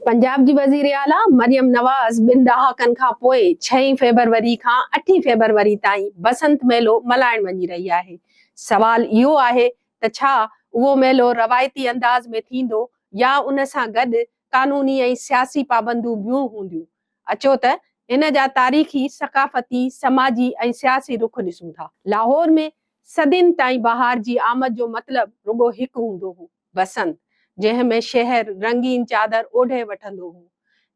پنجاب جي وزير اعليٰ مريم نواز ٻن ڏهاڪن کان پوء ڇهين فيبروري کان اٺين فيبروري تائين بسنت ميلو ملهائڻ وڃي رهي آهي، سوال اهو آهي ته ڇا اهو ميلو روايتي انداز ۾ ٿيندو يا ان سان گڏ قانوني ۽ سياسي پابندون بيون هونديون؟ اچو ته هن جا تاريخي، ثقافتي، سماجي ۽ سياسي رخ ڏسون ٿا. لاهور ۾ صدين تائين بهار جي آمد جو مطلب رڳو هڪ هوندو هو. بسنت، جنهن ۾ شهر رنگين چادر اوڍي وٺندو هو.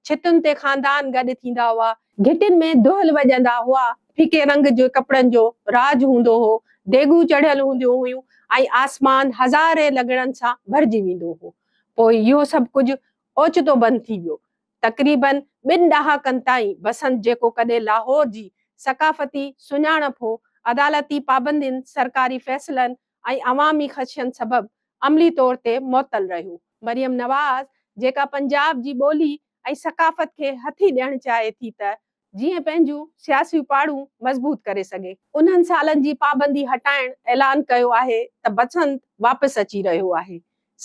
ڇتن تي خاندان گڏ ٿيندا هئا. گهٽين ۾ دهل وڄندا هئا. ڦڪي رنگ جي ڪپڙن جو راڄ هوندو هو. ديڳون چڙهيل هونديون هيون ۽ آسمان هزارين لڳڻن سان ڀرجي ويندو هو. پوء اهو سڀ ڪجهه اوچتو بند ٿي ويو. تقريباً ٻن ڏهاڪن تائين بسنت جيڪو ڪڏهن لاهور جي ثقافتي سڃاڻپ هو، عدالتي پابندين، سرڪاري فيصلن، ۽ عوامي خدشن سبب عملي طور تي معطل رهيو. مريم نواز جيڪا پنجاب جي ٻولي ۽ ثقافت کي هٿي ڏيڻ چاهي ٿي ته جيئن پنهنجون سياسيون پاڙون مضبوط ڪري سگهي. انهن سالن جي پابندي هٽائڻ اعلان ڪيو آهي ته بسنت واپس اچي رهيو آهي.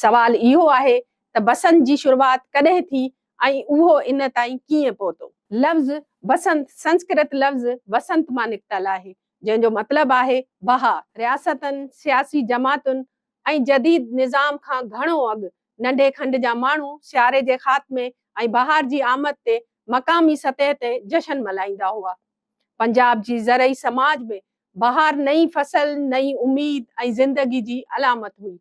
سوال اهو آهي ته بسنت جي شروعات ڪڏهن ٿي ۽ اهو ان تائين ڪيئن پهتو؟ لفظ بسنت سنسڪرت لفظ وسنت مان نڪتل آهي. جنهن جو مطلب آهي بها رياستن، سياسي جماعتن ۽ جديد نظام کان گهڻو اڳ ننڍي کنڊ جا ماڻهو سياري جي خاتمي ۽ بهار جي آمد تي مقامي سطح تي جشن ملهائيندا هئا. پنجاب جي زرعي سماج ۾ بهار نئين فصل، نئين اميد ۽ زندگي جي علامت هئي.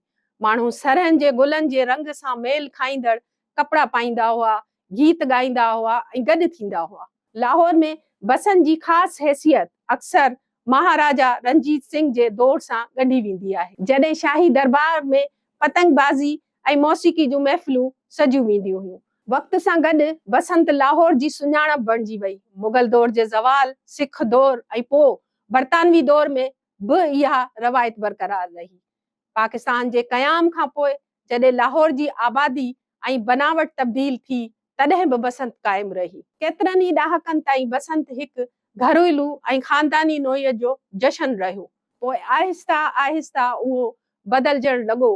ماڻهو سرهن جي گلن جي رنگ سان ميل کائيندڙ ڪپڙا پائيندا هئا، گيت ڳائيندا هئا ۽ گڏ ٿيندا هئا. لاهور ۾ بسن جي خاص حيثيت اڪثر مهاراجا رنجيت سنگهه جي دور سان ڳنڍي ويندي آهي. جڏهن شاهي درٻار ۾ پتنگ بازي ۽ موسيقي جون محفلون سجيون وينديون هيون. وقت سان گڏ بسنت لاهور جي سڃاڻپ بڻجي وئي. مغل دور جي زوال، سک دور ۽ پوء برطانوي دور ۾ به اها روايت برقرار رهي. پاڪستان جي قيام کان پوء جڏهن لاهور جي آبادي ۽ بناوٽ تبديل ٿي تڏهن به بسنت قائم رهي. ڪيترن ئي ڏهاڪن تائين بسنت هڪ گهريلو ۽ خانداني نوعيت جو جشن رهيو. پوء آهستي آهستي اهو بدلجڻ لڳو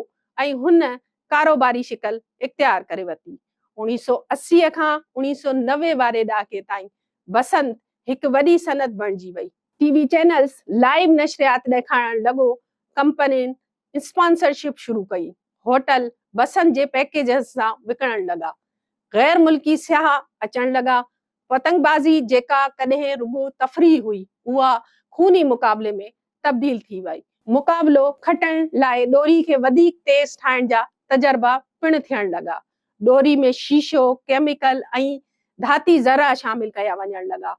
۽ هن ڪاروباري شڪل اختيار ڪري ورتي. اوڻيهه سؤ اسي کان اوڻيهه سؤ نوي واري ڏهاڪي تائين بسنت هڪ وڏي صنعت بڻجي وئي. ٽي وي چينلز لائيو نشريات ڏيکارڻ لڳو، ڪمپنين اسپانسرشپ شروع ڪئي، هوٽل بسن جي پيڪيجز سان وڪڻڻ لڳا، غير ملڪي سياح اچڻ لڳا، پتنگ بازي جيڪا ڪڏهن رڳو تفريح هئي اها خوني مقابلي ۾ تبديل ٿي وئي، مقابلو کٽڻ لاء ڏوري کي وڌيڪ تيز ٺاهڻ جا تجربا پڻ ٿيڻ لڳا، ڏوري ۾ شيشو، ڪيميڪل ۽ ڌاتي ذرا شامل ڪيا وڃڻ لڳا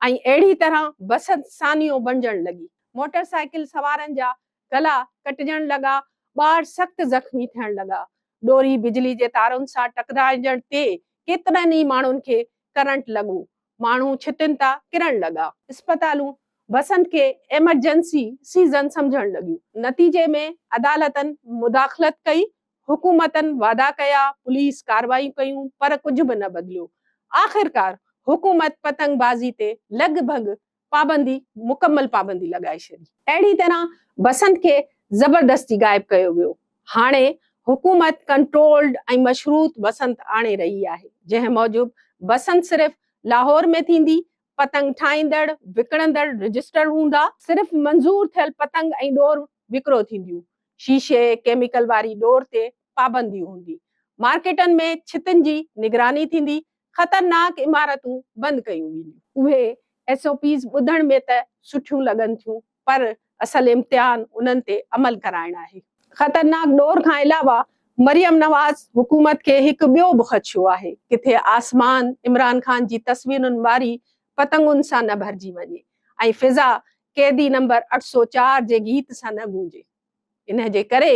۽ اهڙي طرح بس سانيو بڻجڻ لڳي. موٽر سائيڪل سوارن جا گلا ڪٽجڻ لڳا، ٻار سخت زخمي ٿيڻ لڳا. ڏوري بجلي جي تارن سان ٽڪرائجڻ تي ڪيترن ئي ماڻهن کي ڪرنٽ لڳو. ماڻهو ڇتين تان ڪرڻ لڳا. اسپتالون بسنت کي ايمرجنسي سيزن سمجهڻ لڳيون. نتيجي ۾ عدالتن مداخلت ڪئي، حڪومتن وعدا ڪيا، پوليس ڪارروايون ڪيون پر ڪجهه به نه بدليو. آخرڪار حڪومت پتنگ بازي تي لڳ ڀڳ پابندي مڪمل پابندي لڳائي ڇڏي. اهڙي طرح بسنت کي زبردستي غائب ڪيو ويو. هاڻي حڪومت ڪنٽرولڊ ۽ مشروط بسنت آڻي رهي آهي، جنهن موجب بسنت صرف لاهور ۾ ٿيندي، پتنگ ٺاهيندڙ، وڪڻندڙ رجسٽرڊ هوندا، صرف منظور ٿيل پتنگ ۽ ڏور وڪرو ٿينديون، شيشي، ڪيميڪل واري ڏور تي پابندي هوندي، مارڪيٽن ۾ ڇتن جي نگراني ٿيندي، خطرناڪ عمارتون بند ڪيون وينديون. اهي ايس او پيز ٻڌڻ ۾ ته سٺيون لڳن ٿيون پر اصل امتحان انهن تي عمل ڪرائڻ آهي. خطرناڪ ڏور کان علاوه مريم نواز حڪومت کي هڪ ٻيو به خدشو آهي ڪٿي آسمان عمران خان جي تصويرن واري پتنگن سان نه ڀرجي وڃي ۽ فضا قيدي نمبر اٺ سؤ چار جي گيت سان نه گونجي. انهن جي ڪري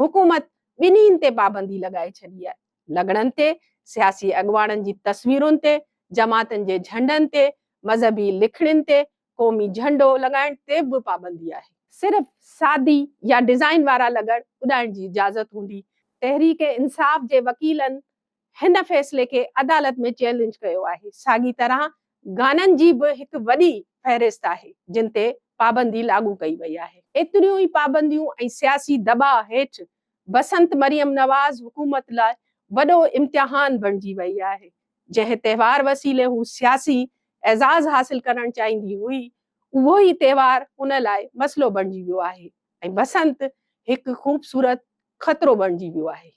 حڪومت ٻنهين تي پابندي لڳائي ڇڏي آهي. لنگڙن تي، سياسي اڳواڻن جي تصويرن تي، جماعتن جي جهنڊن تي، مذهبي لکڻين تي، قومي جهنڊو لڳائڻ تي به پابندي آهي. صرف سادي يا ڊزائين وارا لنگڙ اڏائڻ جي اجازت هوندي. تحريڪ انصاف جي وڪيلن هن فيصلي کي عدالت ۾ چئلينج ڪيو آهي. ساڳي طرح گانن جي به هڪ وڏي فهرست آهي، جن تي پابندي لاڳو ڪئي وئي آهي. ايتريون ئي پابنديون ۽ سياسي دٻاء هيٺ بسنت مريم نواز حڪومت لاء وڏو امتحان بڻجي وئي آهي، جنهن تهوار وسيلي هو سياسي اعزاز حاصل ڪرڻ چاهيندي هئي، اهو ئي تهوار ان لاء مسئلو بڻجي ويو آهي ۽ بسنت هڪ خوبصورت خطرو بڻجي ويو آهي.